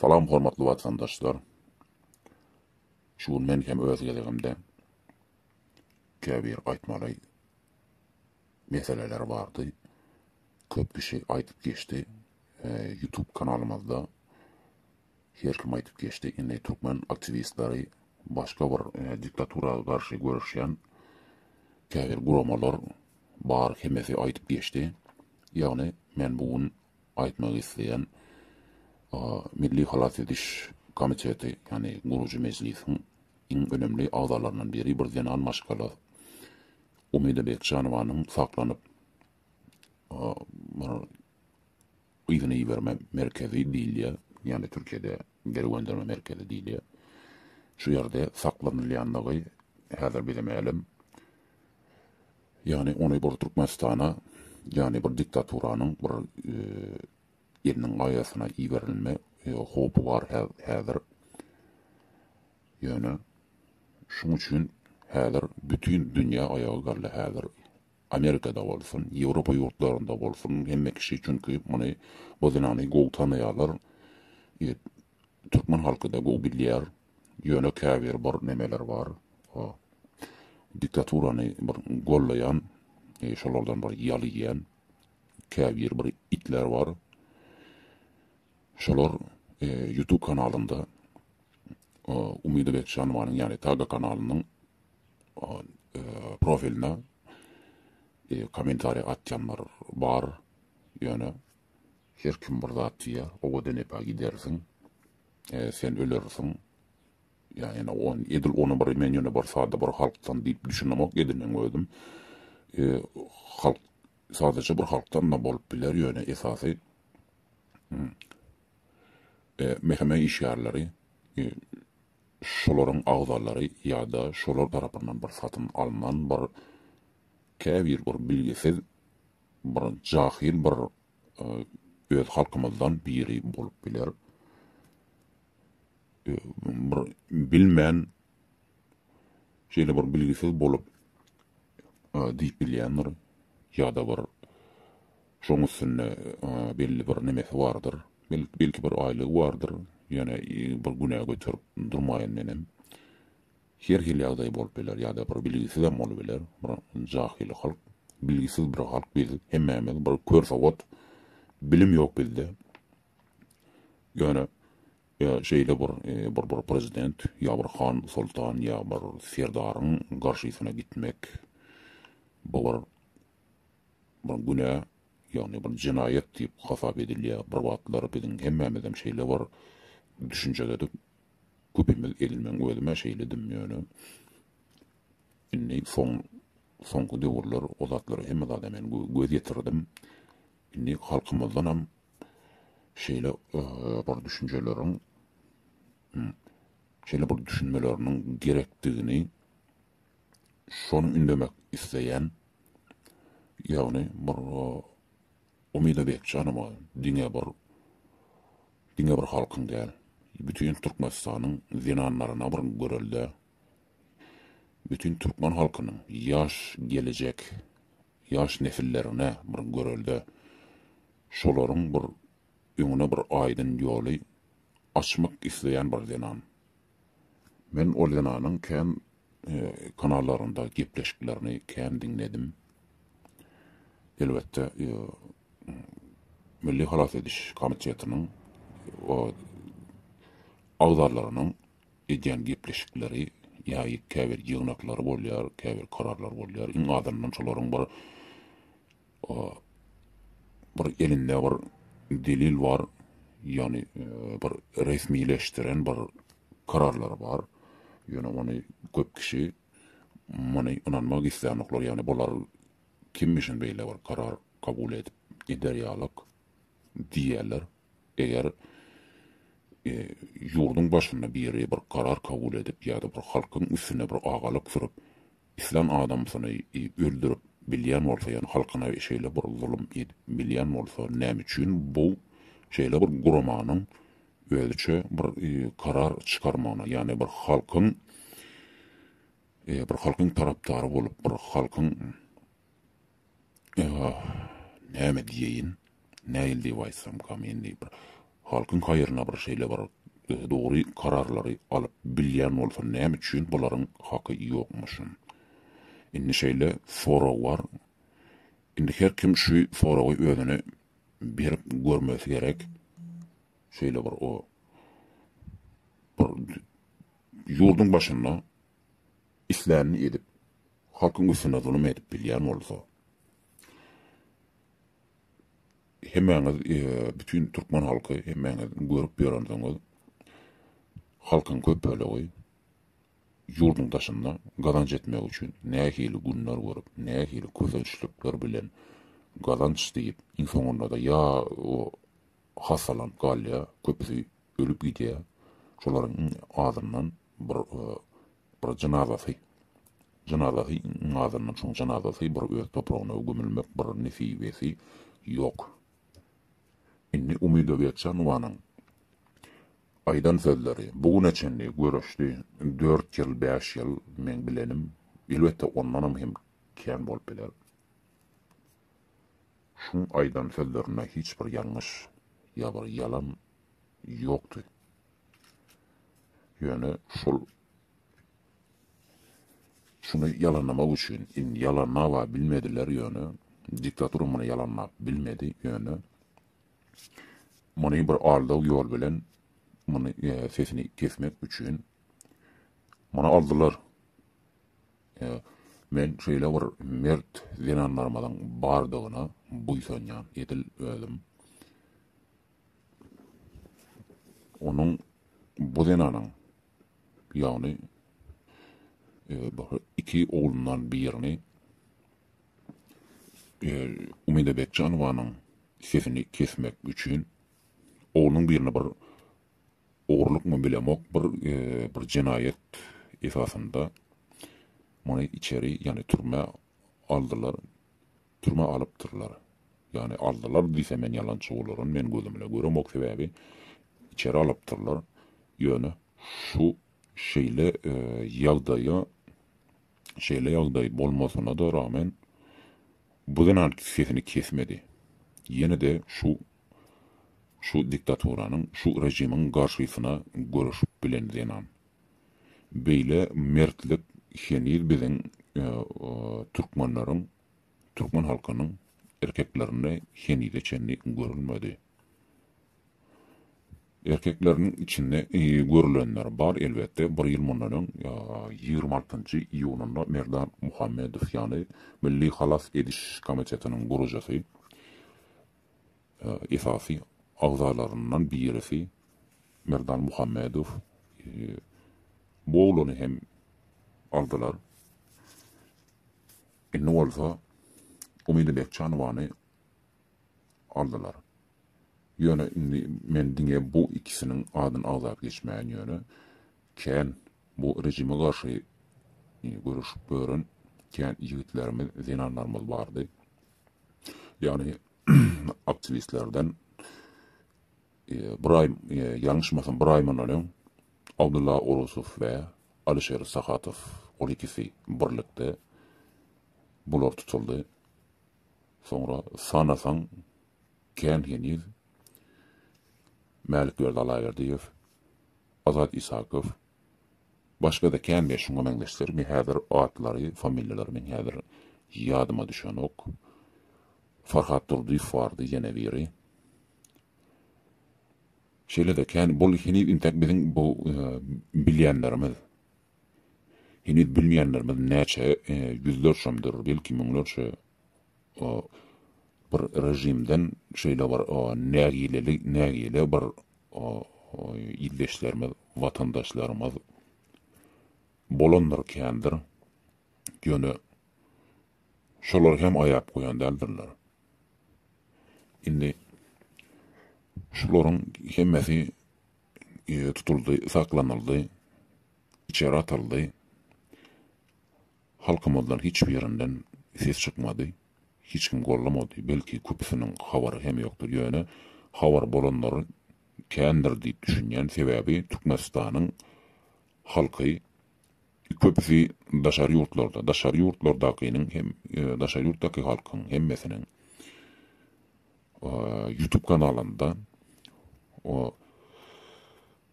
Salam hormatly watandaşlar. Şu gün men hem öz gezegimde käbir aýtmaly meseleler bardy. Köp kişi aýdyp geçdi. YouTube kanalymyzda her kim aýdyp geçdi. Indi türkmen aktiwistleri başga bir diktatura garşy göreşýän käbir guramalar bar hemmesi aýdyp geçdi. Ýagny men bu gün aýtmak isleýän Milli halas ediş komiteti, ýagny gurujy mejlisiň iň önemli agzalaryndan biri bir zenan maşgala Umida Bekjanowanyň saklanyp yzyna iberme merkezi diýilýär, ýagny Türkiýede geri gönderme merkezi diýilýär. Şu ýerde saklanylýandygy häzir bize mälim. Ýagny ony bir Türkmenistana, ýagny bir diktaturanyň bir eliniň gaýasyna iberilme howpy bar häzir. Ýöne şuň üçin häzir bütin dünýä aýaga galdy häzir. Amerikada bolsun, Ýewropa ýurtlarynda bolsun hemme kişi çünki muny bu zenany gowy tanaýarlar. Ýet türkmen halkyda gowy bilýär. Ýöne käbir bir nemeler bar. O diktaturany bir gollaýan, e, şolardan bir ýal iýen käbir bir itler bar. Şolar e, YouTube kanalynda e, Umyda Bekjanowanyň ýagny Taga kanalynyň profiline kommentariýa atýanlar bar. Ýöne her kim bir zat diýýär. Owadan epe gidersiň. E, sen ölersiň. Ýa ýene on edil ony bir men ýöne bir sada bir halkdan diýip düşünemok edinem özüm. E, halk sadaja bir halkdan da bolup biler ýöne esasy hmm, e, meheme işgärleri e, şolaryň agzalary ýa-da şolar tarapyndan bir satyn alnan bir käbir bir bilgisiz bir jahyl bir öz halkymyzdan biri bolup biler. Bir bilmän şeýle bir bilgisiz bolup diýip bilýändir ýa-da bir Şoň üstünde belli bir nemesi bardyr. Belki bir aýlygy bardyr. Ýöne bir günä göterip durmaýyn menem. Her hili ýagdaý bolup biler ýa-da bir bilgisizem bolup biler. Bir jahyl halk, bilgisiz bir halk biz hemmämiz bir kör sowat. Bilim ýok bizde. Ýöne şeýle bir bir prezident ýa bir han soltan ýa bir serdaryň garşysyna gitmek bu bir bir günä, ýagny bir jenaýat diýip hasap edilýär, bir wagtlar biziň hemmämizem şeýle bir düşünjededik, köpimiz edil meň özüm-ä şeýledim ýöne indi soň soňky döwürler o zatlara hemme zada men göz ýetirdim, indi halkymyzdanam şeýle bir düşünjeleriň, şeýle bir düşünmeleriniň gerekdigini, şony ündemek isleýän, ýagny bir Umyda Bekjanowa diňe bir diňe bir halkyň däl, bütin Türkmenistanyň zenanlaryna bir görelde, bütin türkmen halkynyň ýaş gelejek ýaş nesillerine bir görelde, şolaryň bir öňüne bir aýdyn ýoly açmak isleýän bir zenan. Men ol zenanyň kän kanallarynda gepleşiklerini kän diňledim. Elbetde Milli halas ediş komitetiniň agzalarynyň edýän gepleşikleri ýa käbir ýygnaklary bolýar, käbir kararlar bolýar. Iň azyndan şolaryň bir bir elinde bir delil bar, ýagny e, bir resmileşdiren bir kararlar bar. Ýöne ony köp kişi muny ynanmak islänoklar, ýagny bular kimmişin beýle bir karar kabul edip gider ýalyk diýerler. Eger e, ýurduň başynda biri bir karar kabul edip ýa-da bir halkyň üstüne bir agalyk sürüp Islan adamsyny öldürip bilýän bolsa ýa halkyna şeýle bir zulum edip bilýän bolsa näme üçin bu şeýle bir guramanyň özüçe bir karar çykarmagyna ýagny bir halkyň bir halkyň tarapdary bolup bir halkyň Ýa-ha, näme diýeýin, nähili diýip aýtsamkam, indi bir halkyň haýryna bir şeýle bir dogry kararlary alyp bilýän bolsam, näme üçin bularyň haky ýokmuşyn? Indi şeýle sorag bar. Indi her kim şu soragy özüne berip görmesi gerek. Şeýle bir o bir ýurduň başynda islänini edip, halkyň üstüne zulum edip bilýän bolsa, hemmäňiz, bütin türkmen halky, hemmäňiz görüp ýörensiňiz, halkyň köp bölegi ýurduň daşynda gazanç etmek üçin nähili günler görüp, nähili kösençlikler bilen gazanç diýip, iň soňunda-da ýa hassalanyp galýar, köpüsi ölüp gidýär, şolaryň iň azyndan Bir bir jynazasy jynazasy azyndan çoň jynazasy bir öz topragyna gömülmek bir nesibesi ýok. Indi Umyda Gökjanowanyň aýdan sözleri bu güne çenli göreşdi dört ýyl bäş ýyl meň bilenim elbetde ondanam hem kän bolup biler. Şuň aýdan sözlerinde hiç bir ýalňyş ýa bir ýalan ýokdy. Ýöne şol şuny ýalanlamak üçin indi ýalanlaba bilmediler ýöne diktatura muny ýalanlap bilmedi ýöne muny bir aldaw ýol bilen muny e, sesini kesmek üçin muny aldylar e, men şeýle bir mert zenanlarymyzyň bardygyna buýsanýan edil özüm Onuň bu zenanyň, ýagny iki oglundan birini Umyda Bekjanowanyň sesini kesmek üçin oglunyň birini bir ogrulykmy bilemok, bir bir jenaýat esasynda muny içeri, ýagny türmä aldylar. Türmä alypdyrlar. Ýagny aldylar diýsem men ýalançy bolaryn, men gözümle göremok sebäbi içeri alypdyrlar. Ýöne şu şeýle ýagdaýa şeýle ýagdaý bolmasyna-da ragmen bu zenan sesini kesmedi. Ýene-de şu şu diktaturanyň, şu režimiň garşysyna göreşip bilen zenan. Beýle mertlik heniz biziň türkmenleriň türkmen halkynyň erkeklerinde henize çenli görülmedi. Erkekleriniň içinde görülenler bar elbetde, bir ýyl mundan öň ýigrimi altynjy iýunynda Merdan Muhammedow ýaly Milli halas ediş komitetiniň gurujysy, esasy agzalaryndan birisi Merdan Muhammedow bu oglany hem aldylar. Indi bolsa Umyda Bekjanowany aldylar. Ýöne indi men diňe bu ikisiniň adyny agzap geçmäýin ýöne kän bu rejime garşy göreşip ýören kän ýigitlerimiz, zenanlarymyz bardy. Ýagny aktiwistlerden. Bir aý, ýalňyşmasam bir aý mundan öň Abdylla Orusow we Alyşer Sahatow ol ikisi birlikde bular tutuldy. Soňra sanasaň kän heniz Mälikberdi Allaberdiýew, Azat Isakow, başga-da kän we şuňa meňzeşler me häzir atlary, familiýalary meň häzir ýadyma düşenok. Farhat Durdyýew bardy ýene biri. Şeýle-de kän bul heniz intek biziň bu bilýänlerimiz. Heniz bilmeýänlerimiz näçe ýüzlerçemdir, belki müňlerçe bir režimden şeýle bir nägileli nägile bir ildeşlerimiz, watandaşlarymyz bolandyr kändir. Ýöne şolar hem aýap goýan däldirler. Indi şularyň hemmesi tutuldy, saklanyldy, içeri atyldy. Halkymyzdan hiç birinden ses çykmady. Hiç kim gollamady. Belki köpüsiniň habary hem ýokdur. Ýöne habary bolanlary kändir diýip düşünýän. Sebäbi Türkmenistanyň halky Köpüsi daşary ýurtlarda, daşary ýurtlardakynyň hem, daşary ýurtdaky halkyň hemmesiniň YouTube kanalynda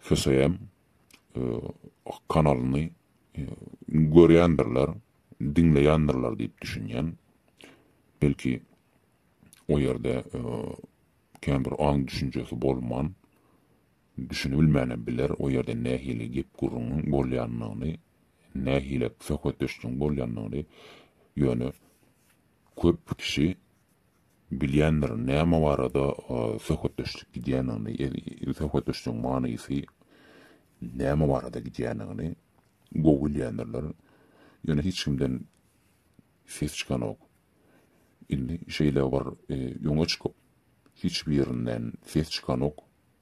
HSM kanalyny görýändirler, diňleýändirler diýip düşünýän. Belki o ýerde kän bir aň düşünjesi bolman, Düşünilmänem biler o ýerde nähili gep-gürrüňiň bolýanyny, nähili söhbetdeşligiň bolýanyny, ýöne köp kişi bilýändir näme barada söhbetdeşlik gidýänini, söhbetdeşligiň manysy näme barada gidýänini gowy bilýändirler, ýöne hiç kimden ses çykanok. Indi şeýle bir öňe çykyp, hiç birinden ses çykanok,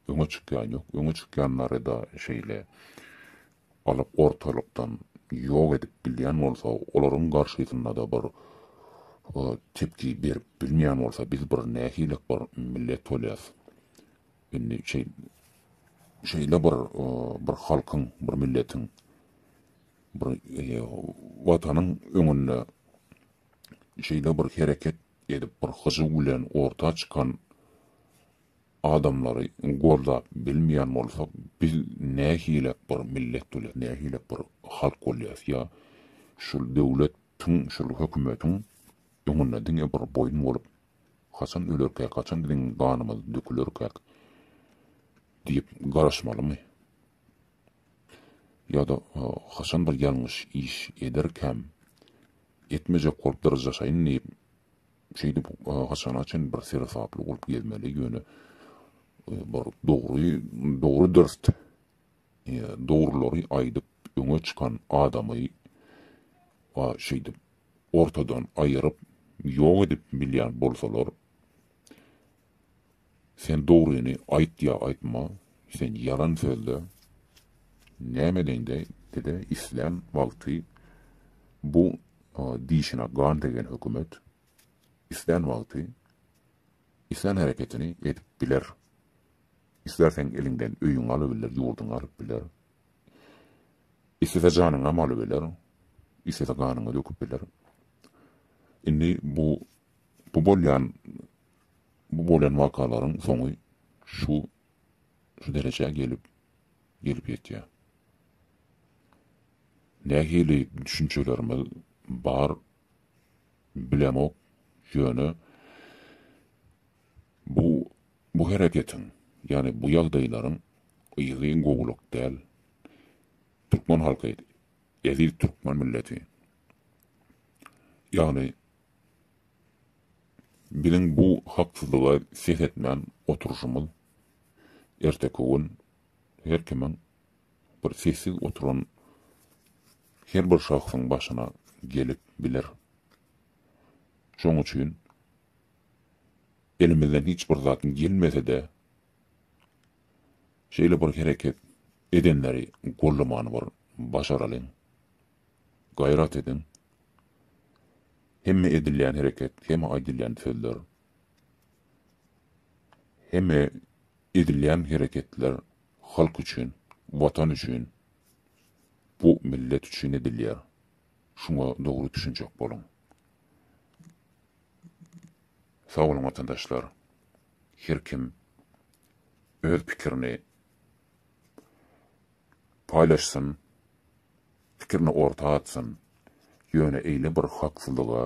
Öňe çykýan ýok, öňe çykýanlary-da şeýle alyp ortalykdan ýok edip bilýän bolsa, olaryň garşysynda-da bir tepki berip bilmeýän bolsa, biz bir nähililik bir millet bolýas. Indi şeý, şeýle bir, bir halkyň, bir milletiň, bir Watanyň öňünde şeýle bir hereket edip, bir hyjuw bilen orta çykan adamlary goldap bilmeýän bolsak biz nähilek bir millet bolýas nähilek bir halk bolýas ýa şul döwlet tiň şul hökümetiň öňünde diňe bir boýun bolup haçan ölerkäk haçan biziň ganymyz dökülerkäk diýip garaşmalymy ýada haçan bir ýalňyş iş ederkäm etmejek bolup dyryjaşaýyn diýip Şeýdip, haçana çyn bir seresaply bolup gezmeli, ýöne bir dogry, dogry-dürs, dogrulary aýdyp öňe çykan adamy şeýdip ortadan aýyryp, ýok edip bilýän bolsalar, Sen dogryny aýt ýa aýtma, sen ýalan sözle. Näme deňde bize islän wagty bu dişine gan degen hökümet islän wagty islän hereketini edip biler. Islerseň eliňden öýüňi alybiler, ýurduňy alyp biler. Islese janyňam alybiler, islese ganyňy döküp biler. Indi bu bu bolýan Bu bolan wakalaryň soňy şu şu derejä gelip gelip ýetýär. Nähili düşünjelerimiz bar bilemok, ýöne bu bu hereketiň, ýagny bu ýagdaýlaryň yzy gowulyk däl. Türkmen halky, eziz türkmen milleti, ýagny Biziň bu haksyzlyga ses etmän oturyşymyz erteki gün her kimiň bir sessiz oturan her bir şahsyň başyna gelip biler. Şoň üçin elimizden hiç bir zat gelmese-de şeýle bir hereket edenleri gollamany bir başaralyň. Gaýrat ediň! Hemme edilýän hereket, hemme aýdylýan sözler, hemme edilýän hereketler halk üçin, Watan üçin, bu millet üçin edilýär. Şuňa dogry düşünjek boluň. Sag boluň watandaşlar! Her kim öz pikirini. paýlaşsyn, pikirini orta atsyn, ýöne eýle bir haksyzlyga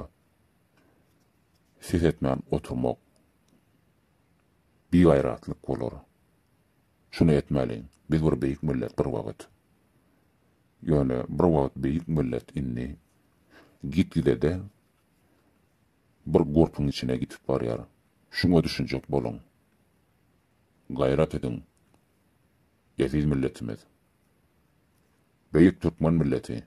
ses etmän oturmak bigaýratlyk bolar. Şuny etmäliň, biz bir beýik millet bir wagt. Ýöne bir wagt beýik millet indi gitgide-de bir gurpuň içine gitip barýar. Şuňa düşünjek boluň. Gaýrat ediň. Eziz milletimiz. Beýik türkmen milleti.